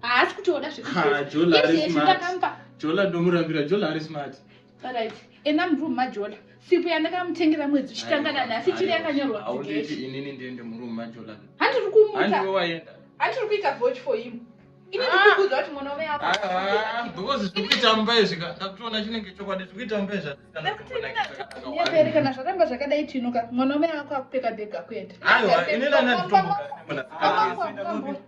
haasi kutoona zvekujola ndomurambira jola ari smart right ena muroom majola sipo yandakamutengera mwedzi uchitangana nhasi chiri yakanyorwa inini ndiende muroom majola handiri kumuta handiri kuita vote for him kana zvaramba zvakadai tinuka mwana wamai ako akupfeka bhega kuenda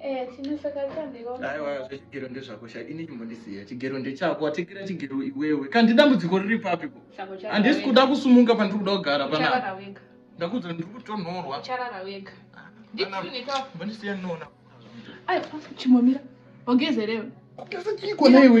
Eh, aiwa zvechigero ndezvakosha ini chimbondisiya chigero ndechako watekera chigero iwewe kandi dambudziko riri papi ko handisi kuda kusumuka pandiri kuda kugara panapa ndakuudza ndiri kutonhorwa mbondisiya ndinoona chimomira ogezerewe ogeza chiiko naiwe